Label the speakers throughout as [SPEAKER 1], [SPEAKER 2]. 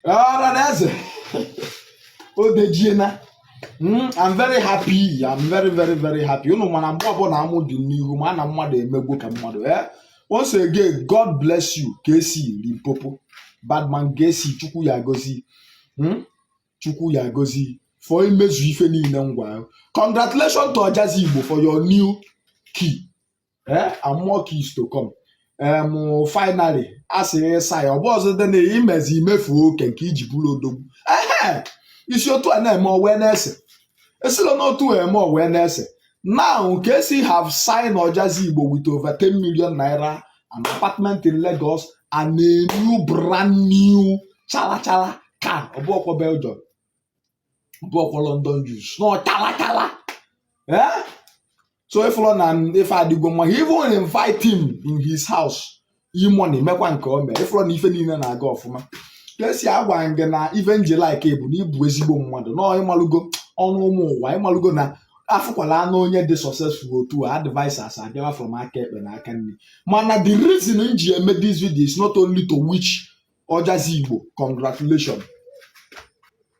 [SPEAKER 1] ọra na eze o dejiena Mm, I'm very happy. I'm very, very, very happy. Unu mara mgbe ọbụla amụ dị m n'ihu ma na mmadụ emego ka mmadụ. Eh? Once again, God bless you, Kcee Limpopo. Badman Kcee, Chukwu ya-agọzi ị. Mm? Chukwu ya-agọzi ị. For imezu ife niile m gwa gị. Congratulations to Ojazzy Igbo for your new key. eh, and more keys to come em finally a sị ịsa ya ọ bụ ọzọ dị na imezi imefu oke nke iji bụrụ odogwu ehe isi otu a na-eme owee na-ese esila n'otu a eme owee na-ese now Kcee have sign Ojazzy igbo with over 10 million naira an apartment in Lagos and a new brand new chala chala car ọ bụrọkwọ Belgium ọ bụrọkwọ London used na ọ chala chala eh? so ịfụrụ na ife adịgo mma he even invite him in his house E-Money emekwa nke o mee ịfụrụ na ife niile na-aga ọfụma Kcee agwa m gị na ife m ji like bụ na ịbụ ezigbo mmadụ na ịmalụgo ọnụ ụmụ ụwa ịmalụgo na a fụkwala nụ onye dị successful otu a advisers abịawa from aka ekpe na aka nni mana the reason m ji eme this video is not only to wish Ojazzy igbo congratulation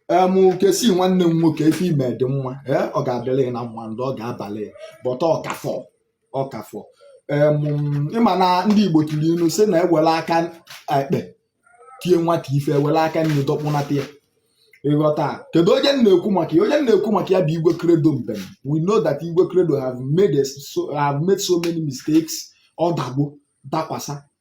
[SPEAKER 1] em Kcee nwanne m nwoke ife i me dị mma ee ọ ga-adịrị ya na mma ndị ọ ga-abalị ya but ọ ka fọ ọ ka fọ em ịma na ndị igbo tụrụ ilu sị na e were aka ekpe tie nwata ife e were aka nni dọkpụnata ya ịghọta kedu onye m na-ekwu maka ya onye m na-ekwu maka ya bụ Igwe Credo Mbem we know that Igwe Credo have made a- so, have made so many mistakes ọ dago dakwasa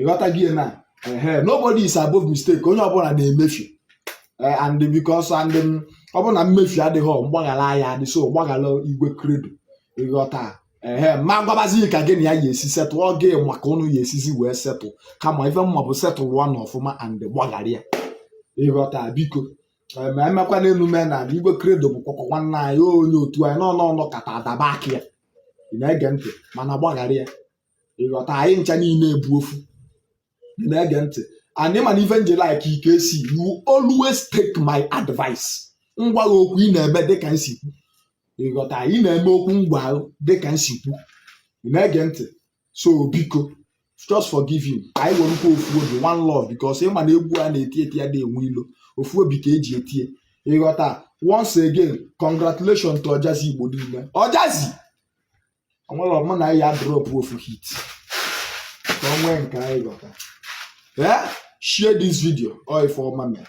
[SPEAKER 1] ịghọta gị na nobody is above mistake onye ọbụla na-emefu e, and because and um, ọ bụrụ na mmefu adịghị mgbaghara aya adị so gbaghara Igwe Credo ịghọta ehe ma gwabazi ka gị na ya ya-esi settle ọ gị ma ka ụnụ ya-esizi wee settle kama ife m ma bụ settle nụ ọfụma and gbaghara ya ịghọta biko ma emekwa na emume na Igwe Credo bụ kwakwa nwanne anyị onye otu anyị n'ọnụ ọnụ kata adaba aka ya ị na-ege ntị mana gbaghara ya ịghọta anyị ncha niile bụ ofu Ị na-ege ntị and ị ma na ife m ji like ị Kcee you always take my advice m gwa gị okwu ị na-eme dịka m si kwu ịghọta ị na-eme okwu m gwa gị dịka m si kwu Ị na-ege ntị so biko just forgive him ka anyị werekwa ofu obi one love because ịma na egwu a na-eti eti adị enwe ilo ofu obi ka e ji eti ye ịghọta once again congratulations to Ojazzy igbo niile Ojazzy o nwere ọ mụ na ya drop ofu hit ka o nwee nke anyị ghọta ee share this video ọ ife ọma mere